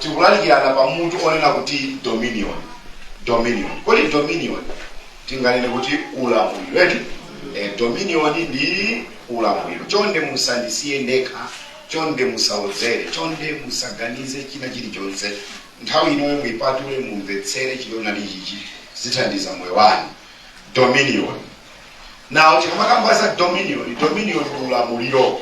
tikulalikirana pa mutu onena kuti dominion dominion kodi dominion tinganene kuti ulamuliro eti eh, dominion ndi ulamuliro chonde musandisiye ndekha chonde musaodzere chonde musaganize china chilichonse nthawi inoyo muipatule mumvetsere chilinalichichi zithandiza moyo wanu dominion now tikamakamba za dominion dominion ndi ulamuliro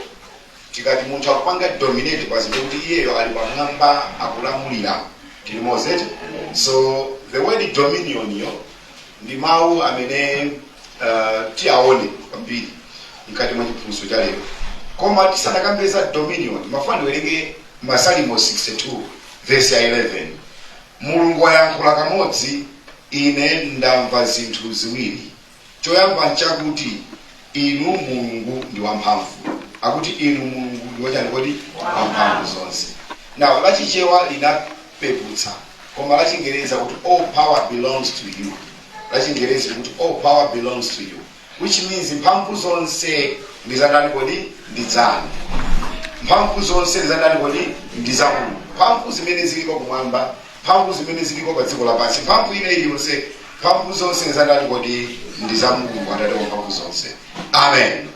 Tikati munthu akupanga dominate pa zinthu kuti iyeyo ali pamwamba akulamulira tilimozi eti so the word dominion yo ndi mawu amene uh, tiaone kwambiri mkati mwa chiphunzitso cha lero koma tisanakambe za dominion ndimafuna ndiwerenge masalimo 62 vesi ya 11 mulungu wayankhula kamodzi ine ndamva zinthu ziwiri Choyamba nchakuti Inu Mulungu ndi wamphamvu. Akuti Inu Mulungu ndi wachani kodi? Wamphamvu zonse. Now la Chichewa linapeputsa koma la Chingerezi kuti all power belongs to you. La Chingerezi likuti all power belongs to you which means mphamvu zonse ndi za ndani kodi? Ndi zanu. Mphamvu zonse ndi za ndani kodi? Ndi za Mulungu. Mphamvu zimene ziliko kumwamba mphamvu zimene zilipo pa dziko lapansi, mphamvu ina iliyonse, mphamvu zonse nzandani kodi? Ndi za Mulungu, Atate wa mphamvu zonse. Amen.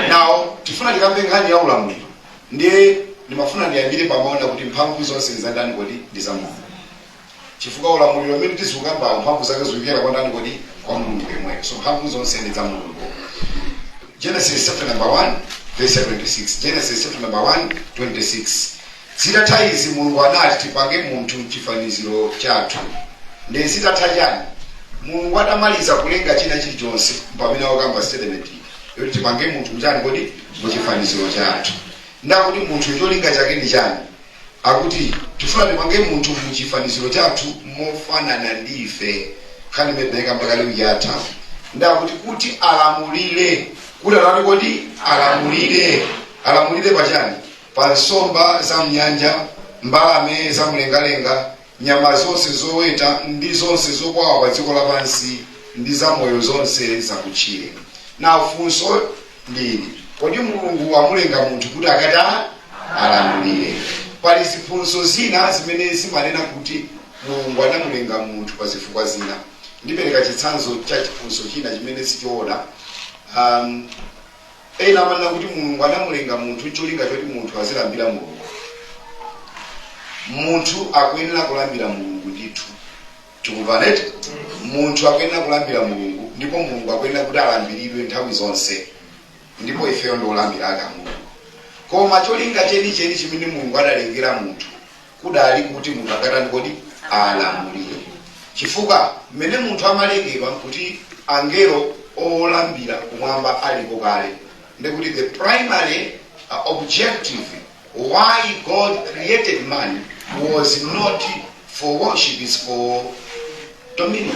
Now tifuna tikambe nkhani ya ulamuliro, ndiye ndimafuna ndiyambire pomaona kuti mphamvu zonse nzandani kodi? Ndi za Mulungu chifukwa ulamuliro umene tizikamba mphamvu zake zikuchokera kwa ndani kodi kwa mulungu yemweyo so mphamvu zonse ndi za mulungu genesis chapter number 1 verse 26 genesis chapter number 1 26 Zitatha izi Mulungu anati, Tipange munthu m'chifaniziro chathu. Nde zitatha chani? Mulungu atamaliza kulenga china chilichonse mpamene akukamba statement iyi yoti tipange munthu mchani kodi? Muchifaniziro chathu. Nde akuti munthuyu cholinga chake ndi chani? Akuti tifuna tipange munthu muchifaniziro chathu mofanana ndi ife. Nkhani imene tinayikamba kale ija yatha. Nde akuti kuti alamulire. Kuti atani kodi? Alamulire. Alamulire pa chani? Pa nsomba za m'nyanja, mbalame za mlengalenga, nyama zonse zoweta, ndi zonse zokwawa pa dziko lapansi, ndi zamoyo zonse zakutchire. Now funso ndi ili, kodi Mulungu wamulenga munthu kuti akatani alamulire? Pali ziphunzitso zina zimene zimanena kuti Mulungu anamulenga munthu pa zifukwa zina. Ndipereka chitsanzo cha chiphunzitso china chimene sichoona. Um, Ena amanena kuti Mulungu anamulenga munthu n'cholinga choti munthu azilambira Mulungu. Munthu akuyenera kulambira Mulungu ndithu. Tikumvana eti? Munthu akuyenera kulambira Mulungu ndipo Mulungu akuyenera kuti alambiridwe nthawi zonse. Ndipo ifeyo ndi olambira ake a Mulungu. Koma cholinga chenicheni chimene Mulungu adalengera munthu kudali kuti munthu akatani kodi alamulire chifukwa mmene munthu amalengedwa kuti angelo olambira kumwamba alipo kale ndekuti the primary uh, objective why god created man was not for worship is for dominion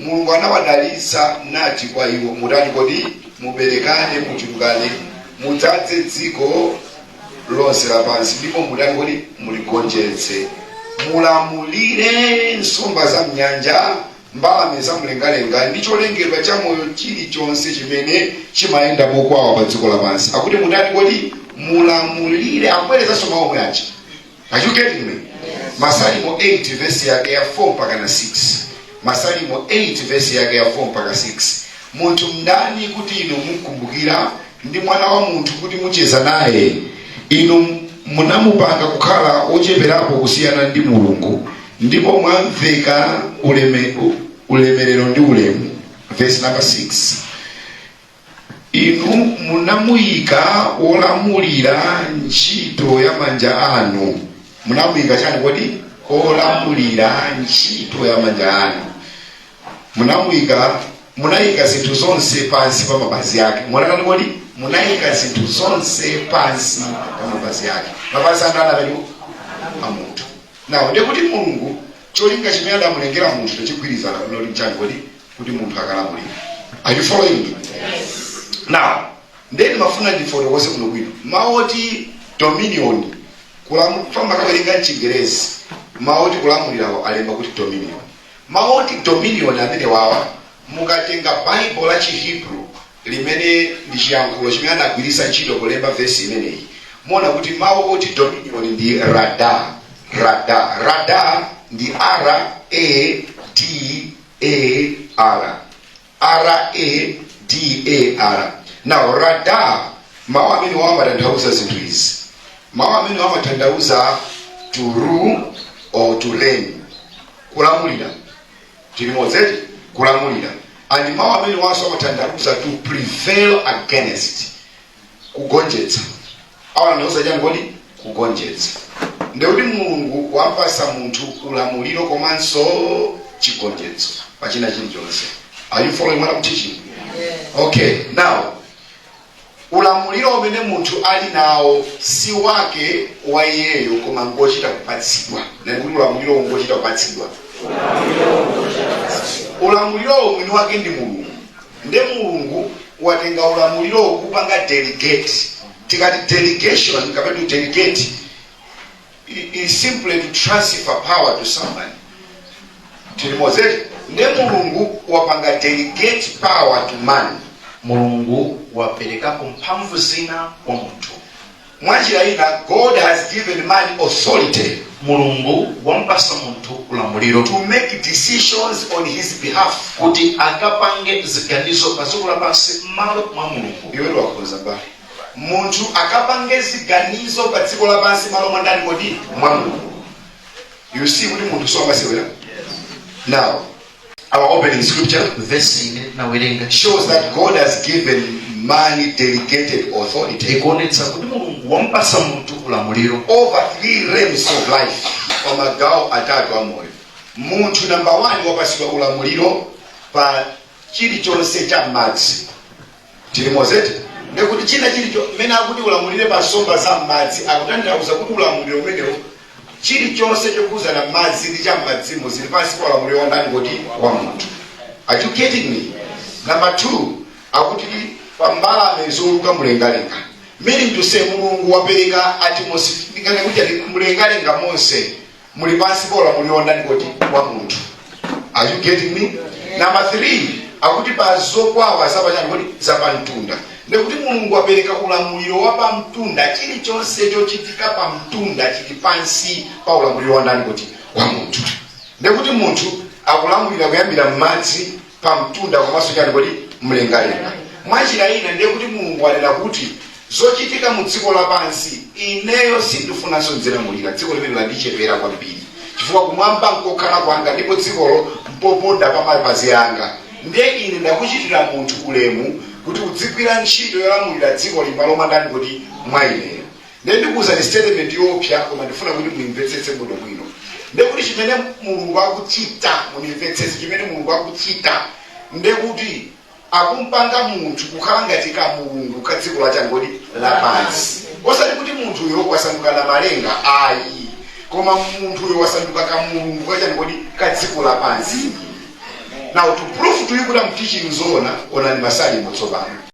Mulungu anawadalitsa nati kwa iwo, Mutani kodi? Muberekane, muchulukane, mudzadze dziko lonse lapansi, ndipo mutani kodi? Muligonjetse, mulamulire nsomba za m'nyanja, mbalame za mlengalenga, ndi cholengedwa cha moyo chilichonse chimene chimayenda mokwawa pa dziko lapansi. Akuti mutani kodi? Mulamulire. Akubwerezanso mawu omwe aja, Are you getting me? Masalimo 8 verse yake ya 4 mpaka na 6. Masalimo 8 verse yake ya 4 mpaka 6. Munthu ndani kuti inu mumkumbukira ndi mwana wa munthu kuti mucheza naye. Inu munamupanga kukhala wocheperapo kusiyana ndi Mulungu ndipo mwamveka uleme, ulemerero ndi ulemu. Verse number 6. Inu munamuyika wolamulira ntchito ya manja anu. Munamuyika chani kodi? Wolamulira ntchito ya manja anu. Munamuyika, munayika zinthu zonse pansi pa mapazi ake. Munatani kodi? Munayika zinthu zonse pansi pa mapazi ake. Mapazi anu an'takhala a munthu. Now ndiye kuti Mulungu cholinga chimene adamulengera munthu chigwirizana kuno ndi chani kodi? kuti munthu akalamulira are you following me now ndeni ndimafuna ndifotokoze kuno bwino mawu oti dominion kulamu- famba kawerenga mchingerezi mawu oti kulamulirawo alemba kuti dominion mawu oti dominion amenewa mukatenga baibulo la chihebrew limene ndi chiyankhulo chimene anagwiritsa ntchito kulemba vesi imeneyi muona kuti mawu oti dominion ndi rada rada rada ndi r a d A-R. R-A-D-A-R. Now, radar, mawu amenewa amatanthauza zinthu izi. Mawu amenewa amatanthauza to rule or to reign. Kulamulira. Tili limodzi eti, kulamulira. And mawu amenewanso amatanthauza to prevail against. kugonjetsa amanenanso chani kodi kugonjetsa ndekuti mulungu wampasa munthu ulamuliro komanso chigonjetso pachina chilichonse are you following what I'm teaching okay now ulamuliro umene munthu ali nawo si wake wa iyeyo koma ngochita kupatsidwa ndekuti ulamuliro ngochita kupatsidwa ulamuliro mwini wake ndi mulungu nde mulungu watenga ulamuliro wakupanga delegate tikati delegation kapena kuti delegate i- is simply to transfer power to somebody tili limodzi eti nde mulungu wapanga delegate power to man mulungu waperekapo mphamvu zina kwa munthu Munjira ina, God has given man authority. Mulungu wamupatsa munthu ulamuliro. To make decisions on his behalf. Kuti akapange ziganizo pa dziko lapansi m'malo mwa Mulungu. Iwe wakhoza mbale. Munthu akapange ziganizo pa dziko lapansi m'malo mwa ndani kodi? Mwa Mulungu. You see kuti munthu si wamasewera? Now, Our opening scripture vesi imene tinawerenga shows that God has given man delegated authority ikuonetsa kuti mulungu wamupasa munthu ulamuliro over three realms of life pa magawo atatu a moyo munthu namba 1 wapasidwa ulamuliro pa chilichonse cha madzi Tili limodzi eti? Ndiye kuti china chilicho mmene akuti ulamulire pa nsomba za m'madzi akutanthauza kuti ulamuliro umenewo chilichonse chokhudzana ndi madzi ndi cha m'madzimo zili pansi pa ulamuliro wa ndani kodi wa munthu are you getting me number two akuti pa mbalame zouluka mlengalenga meaning to say mulungu wapereka atmosphere kuti mlengalenga monse muli pansi pa ulamuliro wa ndani kodi wa munthu are you getting me namba 3 akuti pa zokwawa zapachani kodi zapamtunda ndekuti mulungu wapereka ulamuliro wa pamtunda chilichonse chochitika pamtunda chili pansi pa ulamuliro wa ndani kodi wa munthu ndekuti munthu akulamulira kuyambira m'madzi pa mtunda komanso chani kodi mlengalenga mwanjira ina ndiye kuti mulungu wanena kuti zochitika mu dziko lapansi ineyo sindifunanso ndizilamulira dziko limene landichepera kwambiri chifukwa kumwamba nkokhalako kwanga ndipo dzikolo mpoponda pa mapazi anga ndiye ine ndakuchitira munthu ulemu kuti udzigwira ntchito yolamulira dziko m'malo mwa ndani kodi mwa ineyo Nde ndikuuzani statement yoopsa koma ndifuna kuti muimvetsetse bwino bwino. Nde kuti chimene Mulungu akuchita mundimvetsetse chimene Mulungu akuchita nde kuti akumpanga munthu kukhala ngati ka Mulungu ka dziko lachani kodi lapansi. Osati kuti munthuyo wasanduka namalenga ayi koma munthuyo wasanduka ka Mulungu kachani kodi ka dziko lapansi. Now to prove to you kuti I'm teaching zoona onani masalimo tsopano.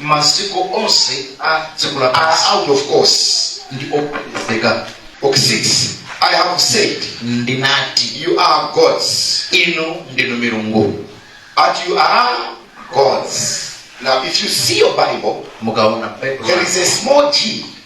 maziko onse a dziko are lapansi out of course ndi opezeka ok 6 i have said ndinati you are gods inu ndinu milungu ati you are gods now if you see your bible mukaona there is a small g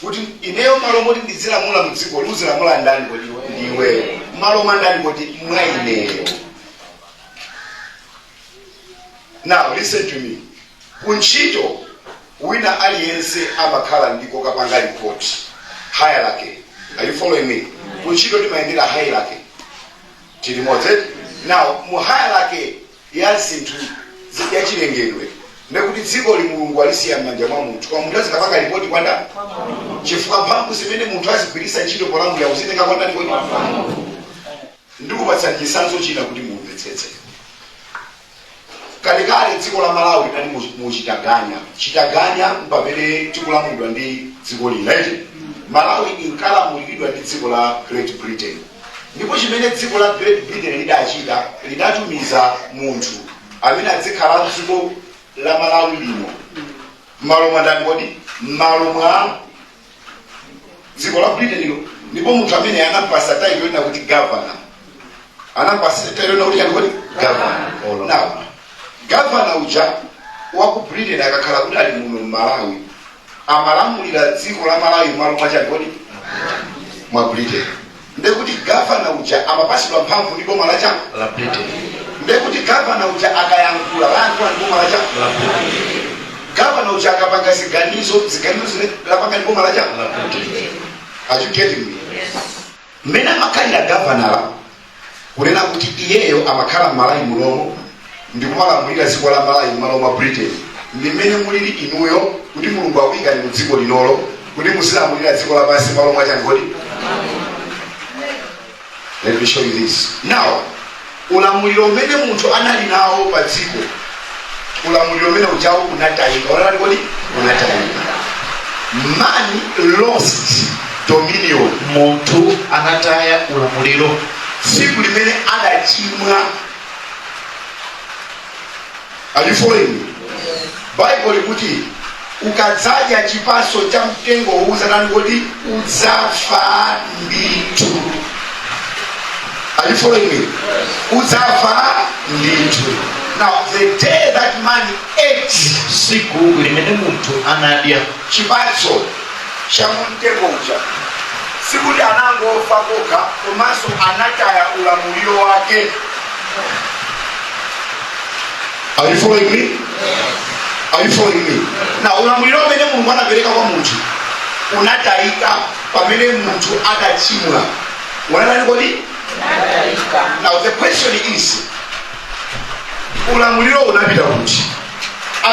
Kuti, iweyo mmalo moti ndidzilamula mu dzikoli, uzilamula ndi ndani kodi? Ndi iweyo. Mmalo mwa ndani kodi? Mwa ineyo. Now listen to me. Ku ntchito wina aliyense amakhala ndi kokapanga report hierarchy. Are you following me? Ku ntchito timayendera hierarchy. Tili limodzi eti. Now mu hierarchy ya zinthu zi- ya chilengedwe ndekuti dzikoli mulungu alisiya m'manja mwa munthu koma munthu azikapanga lipoti kwa ndani chifukwa mphamvu zimene munthu azigwiritsa ntchito polamulira wazitenga kwa ndani kodi ndikupatsani chitsanzo china kuti mumvetsetse kalekale dziko la malawi linali mu- mu chitaganya chitaganya m'pamene tikulamulidwa ndi dziko lina eti malawi inkalamuliridwa ndi dziko la great britain Ndipo chimene dziko la Great Britain lidachita, lidatumiza munthu amene adzikhala m'dziko la Malawi limo m'malo mwa ndani kodi? M'malo mwa dziko la Britain lija. Ndipo munthu amene anampasa title yonena kuti governor, anampasa title yonena kuti chani kodi? Governor. Now, governor uja wa ku Britain akakhala kuti ali muno m'Malawi, amalamulira dziko la malawi mmalo mwachani kodi mwa britain ndekuti gavana uja amapasidwa mphamvu ndi boma lachani la britain ndekuti gavana uja akayankhula layankhula ndi boma lachani la britain gavana uja akapanga ziganizo ziganizo zine lapanga ndi boma lachani la britain are you getting me mmene amakhalira gavana kunena kuti iyeyo amakhala mmalawi munomo ndikumalamulira dziko la malawi mmalo mwa britain ndi mmene mulili inuyo kuti mulungu akuyikani mu dziko linolo kuti muzilamulira dziko lapansi mmalo mwa chani kodi let me show you this now ulamuliro umene munthu anali nawo pa dziko ulamuliro umene ujawo unatayika unatani kodi unatayika man lost dominion munthu anataya ulamuliro tsiku limene adachimwa Are you following me? Bible likuti ukadzadya chipatso cha mtengo uwu udzatani kodi udzafa ndithu. Are you following me? Udzafa ndithu. Now the day that man ate siku limene munthu anadya chipatso cha mu mtengo uja sikuti anangofa kokha komanso anataya ulamuliro wake Are you following me? Are you following me? now ulamuliro umene mulungu anapereka kwa munthu unatayika pamene munthu adachimwa unatani kodi now the question is ulamuliro unapita kuti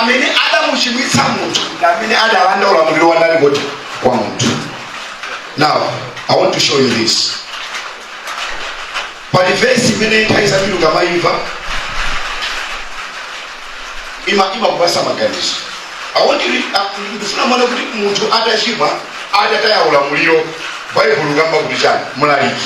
amene adamuchimwitsa munthu ndi amene adalanda ulamuliro wa ndani kodi kwa munthu now i want to show you this pali vesi imene nthawi zina ukamayimva ima imakupasa maganizo i want you to- ah, ndifuna muone kuti munthu atachimwa adataya ulamuliro baibulo likamba kuti chani mlaliki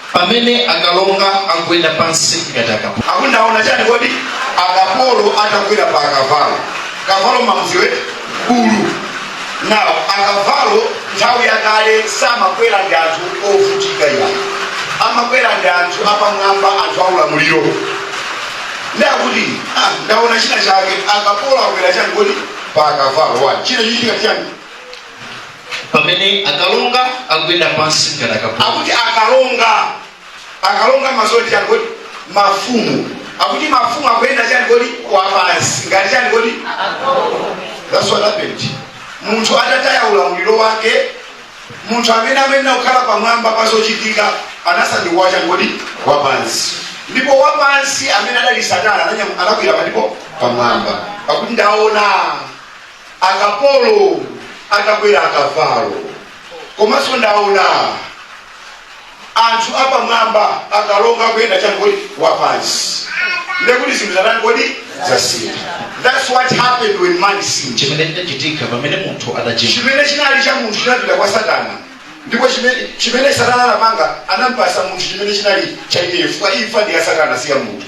pamene akalonga akuyenda pansi ngati akapolo. Akuti ndaona chani kodi? Akapolo atakwera pa akavalo. Kavalo mmamudziwa eti? Bulu. Now akavalo nthawi yakale samakwera ndi anthu ovutika iyayi. Amakwera ndi anthu apamwamba, anthu aulamuliro. Nde akuti ah, ndaona china chake. Akapolo akwera chani kodi? Pa akavalo. Wani. China chichitika chani? pamene akalonga akuyenda pansi ngati akapolo akuti akalonga akalonga ndi zoti chani kodi mafumu akuti mafumu akuyenda chani kodi wapansi ngati chani kodi that's what happened munthu atataya ulamuliro wake munthu amene amayenera kukhala pamwamba pa zochitika anasanduka chani kodi wapansi ndipo wapansi amene adali satana ananya- anakwera palipo pamwamba akuti ndaona akapolo atakwera akavalo komanso ndaona anthu apamwamba akalonga kuyenda chani kodi wapansi ndekuti zinthu zatani kodi zasintha thats what happened when man sinned chimene chinachitika pamene munthu adachimwa chimene chinali cha munthu chinapita kwa satana ndipo chimene- chimene satana anapanga anampatsa munthu chimene chinali cha iyeyo chifukwa imfa ndi ya satana si ya munthu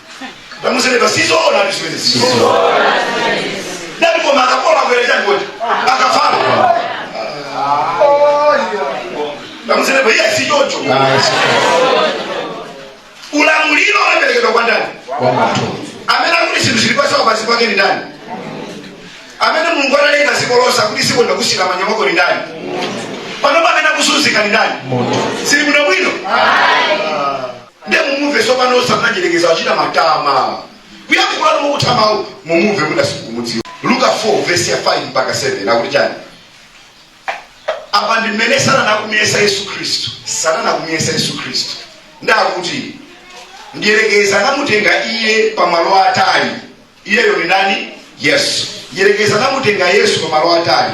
Tamuuze neba sizoona zimenezo sizoona. Ndati koma akapolo akwera chani kodi? Akavalo. Tamuuze neba iyayi si choncho. Ulamuliro unaperekedwa kwa ndani? Amene akuti zinthu zili pansi pansi pake ni ndani? Amene Mulungu analenga dziko lonse akuti dziko ndakusiyira m'manja mwako ni ndani? Panopa amene akuzunzika ni ndani? Zili bwino bwino? nde mumumve tsopano osati mdyerekezi achita matama kuyankhula mokutha mawu mumumve munda simukuudziwa luka 4 vesi ya 5 mpaka 7 akuti chani apa ndi mmene satana akumuyesa yesu khristu satana akumuyesa yesu khristu ndakuti mdyerekezi anamutenga iye pamalo atali Iyeyo ndi ndani? Yesu. Mdyerekezi anamutenga Yesu pamalo atali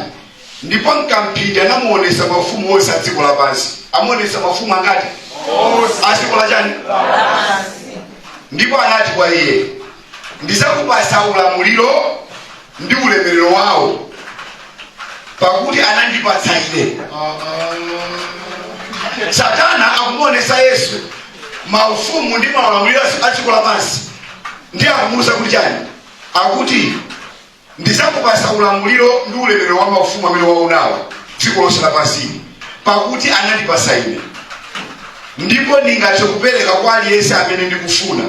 ndipo m'kamphindi anamuonetsa maufumu onse a dziko lapansi. Amuonetsa maufumu angati? A dziko la chani? Ndipo anati kwa iye, ndidzakupatsa ulamuliro ndi ulemerero wawo, pakuti anandipatsa ine. Satana akumuonetsa Yesu maufumu ndi maulamuliro a dziko lapansi. ndiye akumuuza kuti chani akuti ndizakupasa ulamuliro ndi ulemerero wa maufumu amene waonawa dziko lonse lapansili pakuti anandipasa ine ndipo ndingathe kupereka kwa aliyense amene ndikufuna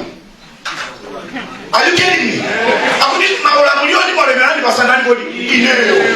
are you getting me akuti maulamuliro ndi maulemerero anandipasa ndani kodi ineyo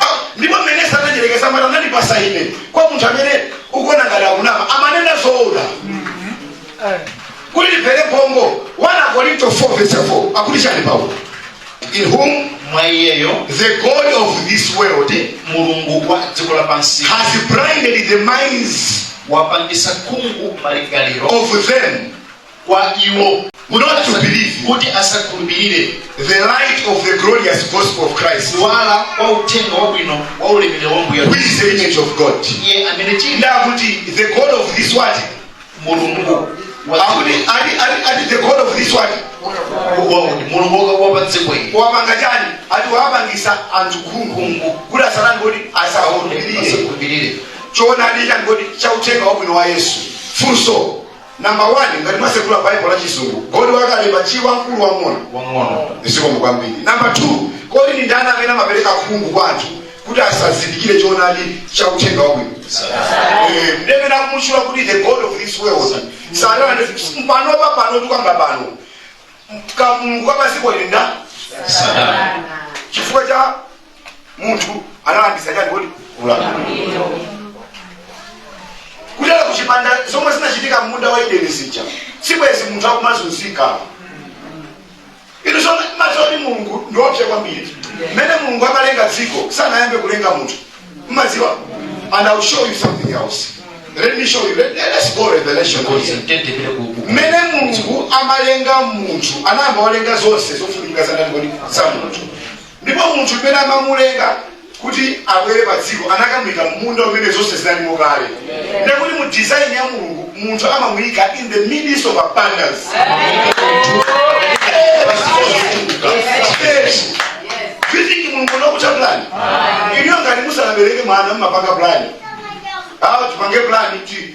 Ah, ndipo mmene sananyerekeze akumanena anandipasa ine kwa munthu amene ukuona ngati akunama amanena zoona kuti tiphere pongo 1 Akorinto 4 verse 4 akuti chani paulo in whom mwa iyeyo the god of this world mulungu wa dziko lapansi has blinded the minds wapangisa khungu malingaliro of them kwa iwo Not to believe. kuti asakhulupirire the light of the glorious gospel of Christ, kuwala kwa uthenga wabwino wa ulemerero wa ambuye who is the image of God. iye amene chili Nde akuti the God of this world, mulungu wa akuti ali ali ali the God of this world. wakuti mulungu wa- wa pa dziko ili Wapanga chani? Ati wapangisa anthu khungu khungu kuti asatani kuti asakhulupirire. asakhulupirire Choonadi chani kuti cha uthenga wabwino wa Yesu. Funso Number 1 ngati mwasegula Bible la chizungu, God wakalemba chi wamkulu wamng'ono. Wamng'ono. Zikomo kwambiri. Number 2, kodi ndi ndani amene amapereka khungu kwa anthu kuti asazindikire choonadi cha uthenga wabwino? Eh, Nde amene akumutchula kuti the God of this world. Satana ndi pano pa pano tukamba pano. Kamulungu ka padziko ili nda Satana. chifukwa cha munthu analandisa chani kodi ulamuliro kutere kuchipanda zomwe zinachitika mmunda wa Edeni zija sibwezi munthu akumazunzika inu zomwe mmadziwa kuti mulungu ndiopsa kwambiri mmene mulungu amalenga dziko sanayambe kulenga munthu mmadziwa and ill show you something else let me show you let, let's go revelation Ngozi, mtende vile kuku. mmene mulungu amalenga munthu anayamba walenga zonse zofunika za ndani kodi za munthu Ndipo munthu m'mene amamulenga kuti abwere pa dziko anakamuika m'munda umene zonse zinalimo kale. Ndiye kuti mu design ya Mulungu munthu amamuika in the midst of abundance. Yes. Do you think Mulungu sanakonze plan? Inuyo ngati musanabereke mwana mmapanga plan. Awa tipange plan ti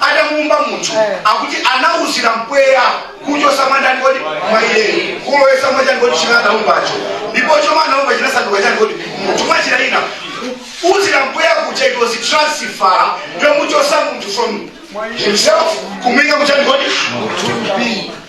adamuumba munthu akuti anauzira mpweya kuchosa mwandani kodi mwa iye kulowesa mwachani kodi chimene anaumbacho ndipo chomwe anaumba chinasanduka chani kodi munthu mmachita ina uzira mpweya kuja it was transfer yomuchosa munthu from himself kumuika muchani kodi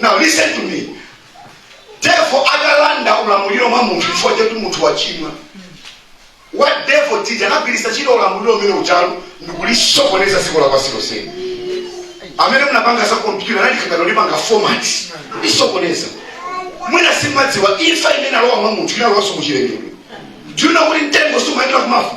Now listen to me. Devil atalanda ulamuliro mwa munthu chifukwa choti munthu wachimwa. What devil did anagwiritsa ntchito ulamuliro umene uchalu ndikulisokoneza dziko lapansi lonseli. Amene munapanga za kompyuta anali kungolipanga format lisokoneza. Mwina simumadziwa imfa imene alowa mwa munthu inalowanso muchilengedwe. Do you know kuti mtengo sumayenera kumafa?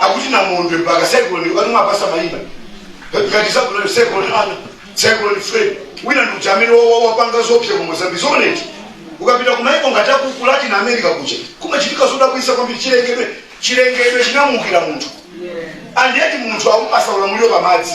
akuti namondwe mpaka cyclone wanu mwapasa maina ngati cyclone cyclone ana cyclone fred wina ndi uja amene wa- wa- wapanga zoopsa ku mozambique zoona eti ukapita kumaiko ngati akuku latin america kuja kumachitika zodabwisa kwambiri chilengedwe chinamuukira munthu and yet munthu akumpasa ulamuliro pamadzi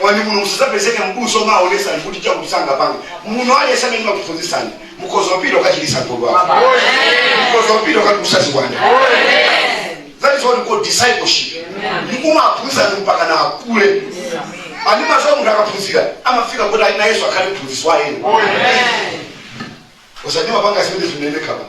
Onani kuno kusadzapezeke m'busa omaonesani kuti chakuti sangapange. Muno aliyense amene ndimakuphunzitsani mukhoza kupita kukachiritsa wodwala. Mukhoza kupita kukatulutsa ziwanda. That is what we call discipleship. Mumaphunzitsa anthu mpakana akule. And mumadziwa munthu akaphunzira amafika kuti nayenso akhale mphunzitsi wa ena. Osati kumapanga zimene zimaoneka pano.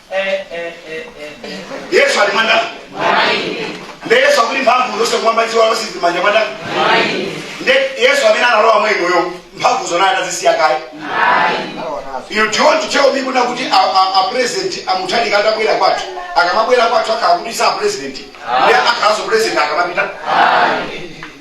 yesu ali mwa ndani nde yesu akuti mphamvu zonse kumwamba dziko lapansi zili mmanja mwa ndani nde yesu amene analowa mwa inuyo mphamvuzo anazisiya kaye you want to tell me kunena kuti a, a, a president a mutharika atabwera kwathu akamabwera kwathu akhala kuti si a president nde akhalanso president akamapita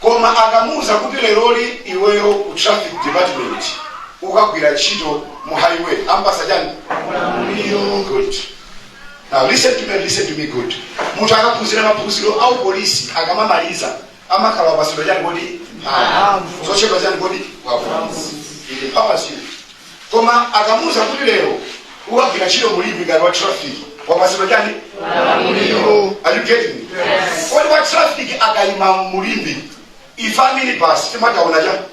Koma akamuuza kuti leroli iweyo ku traffic department ukagwira ntchito mu highway ampasa chani ulamuliro good now listen to me and listen to me good munthu akaphunzira maphunziro a upolisi akamamaliza amakhala wapasidwa chani kodi mphamvu zochepa chani kodi wavuzi it empowers you koma akamuuza kuti lero ukagwira ntchito mu limbe ngati wa traffic wapatsidwa chani Malamulo. are you getting me kodi wa traffic akayima mu limbe ife a minibus timataona chani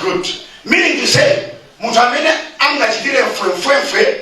good meaning to say munthu amene angachitire mfwemfwemfwe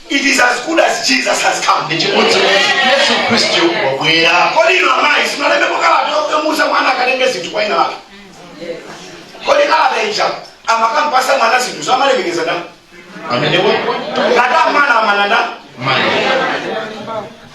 It is as good as Jesus has come. Ndi chimodzimodzi Yesu Khristu wabwera. Kodi inu amayi simunalembepo kalata yomuuza mwana akatenge zinthu kwa winawake? Kodi kalata ija akamampasa mwana zinthu amalemekeza ndani? Amene wapo. Ngati amumana amana ndani? Mayi.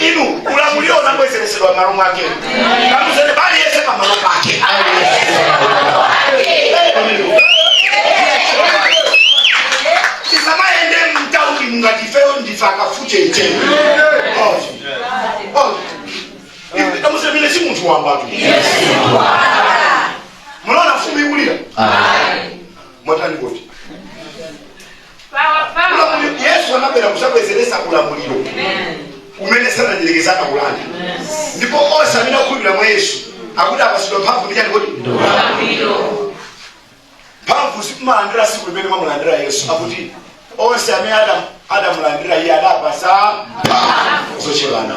inu ulamuliro unabwezeresedwa mmalo mwake kamuuzeni m'bale yese pamalo pake tisamayende mtaunimu ngati ifeyo ndife akafute iteni kamuuzeni ine si munthu wambatu munaona mfumu ikulira mwatani koti Ulamuliro- yesu anabwera kudzabwezeretsa ulamuliro umene satana mdyerekezi anaulanda ndipo onse amene akhulupirira mwa yesu akuti apasidwa mphamvu ndi chani kodi mphamvuzi mumalandira siku limene mwamulandira yesu akuti onse amene ada- adamulandira iye adapasa mphamvu zotchedwa ana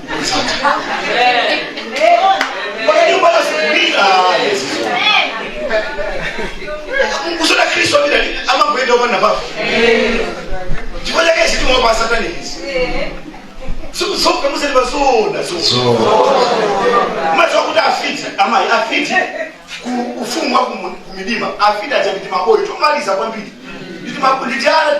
Kodi nyumba yazikulira Yesu. Kusona Kristo amene ali- amangoyenda opanda papo. Chifukwa chake izi timwe pa satani izi. Siku zoka musati bazona so. So, Macho akuti afiti amayi afiti ku ufumu wa kumu- kumidima afiti aja ndi timaboy tomaliza kwambiri. Ndi timaboy ndi tiana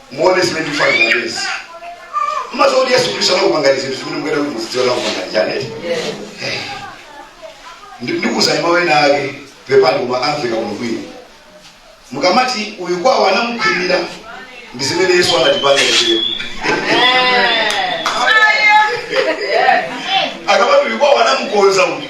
muone zimene ndikufanira ndezi mmadziwa kuti yesu khristu anakupangani zinthu zimene mukuyenera kuti muzidziwa anakupangani chani eti ndikuuzani mawu ena ake pepani koma amveka kuno kwina mukamati uyu kwawo anamukhwimira ndi zimene yesu anatipanga ife akamati uyu kwawo anamukonza uyu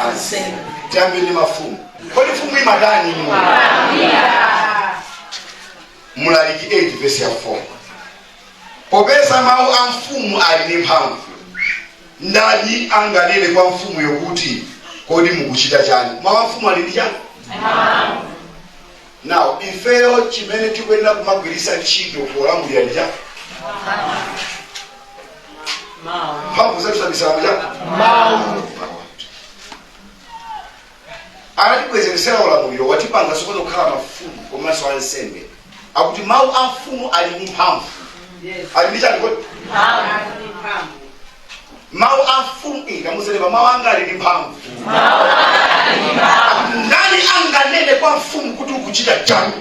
ansembe tiyambe ndi mafumu kodi mfumu imatani inu mlaliki 8 vesi ya 4 popeza mawu a mfumu ali ndi mphamvu ndani anganene kwa mfumuyo kuti kodi mukuchita chani mawu a mfumu ali ndi chani Now, ifeyo chimene tikuyenera kumagwiritsa ntchito polamulira ndi chani mphamvu zathu zabisala mu chani anatibwezeresera ulamuliro watipanga sopano kukhala mafumu komanso ansembe akuti mawu a mfumu ali ndi mphamvu ali ndi chani kodi Mphamvu. mawu a mfumu ikamuzelemba mawu anga ali ndi mphamvu ndani anganene kwa mfumu kuti ukuchita chani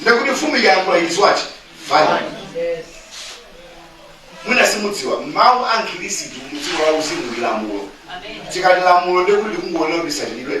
ndekuti mfumu ikayankhula it is what final mwina simudziwa mawu a mkhristu mudziko la uzimu ndi lamulo tikati lamulo ndekuti likungofuna kuti lisatidwe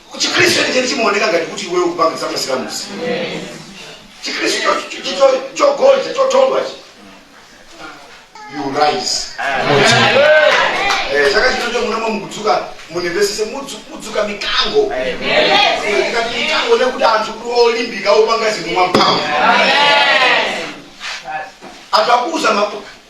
chikhristu chenicheni chimaoneka ngati kuti iweyo ukupanga zamasilamusi chikhristu cho- cho- cho- cho- chogonja chothodwachi you rise Eh, chaka chino chomunamo mukudzuka mundimvesese mudzuka mikango Eh, tikati mikango nekuti anthu kuti olimbika opanga zinthu mwamphamvu anthu akuuza ma-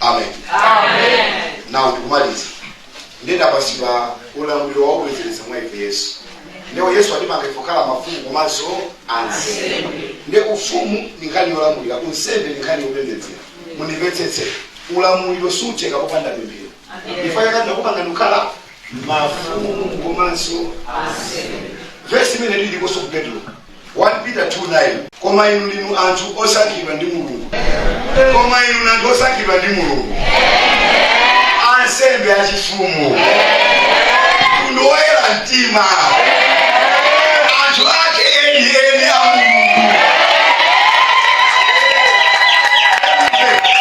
amen now ndikumaliza ndinapatsidwa ulamuliro waubwezeretsa mwa ife yesu ndipo yesu atipanga kukhala mafumu komanso ansembe nde ufumu ndi nkhani yolamulira unsembe ndi nkhani yopembedzera mundimvetsetse ulamuliro sutheka popanda pemphero ichi akuti anakupanga kukhala mafumu komanso ansembe vesi imene iliponso ku petro 1 Peter 2 9 koma inu ndinu anthu osankhidwa ndi mulungu koma inu ndinu anthu osankhidwa ndi mulungu ansembe achifumu mtundu woyera mtima anthu ake eni eni a mulungu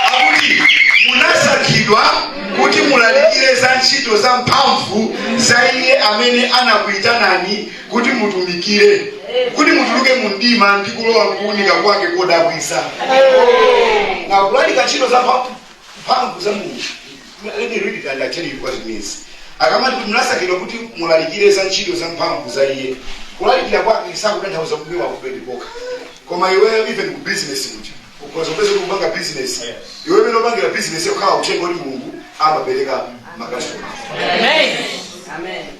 akuti munasankhidwa kuti mulalikire za ntchito za mphamvu za iye amene anakuyitanani kuti mutumikire kuti mutuluke mu mdima ndi kulowa mkuunika kwake kodabwitsa na kulalika ntchito za mphamvu- mphamvu za mulungu let me read it and I tell you what it means akamati kuti munasankhidwa kuti mulalikire za ntchito za mphamvu za iye kulalikira kwake sakutanthauza kubwera ku pulpit kokha koma iweyo even ku business kuti ukhoza kupeza ukupanga business iwe mmene ukupangira business ikhala uthenga kuti mulungu amapereka makasitoma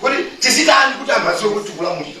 kuti tizitani kuti anthu adziwe kuti tikulamulira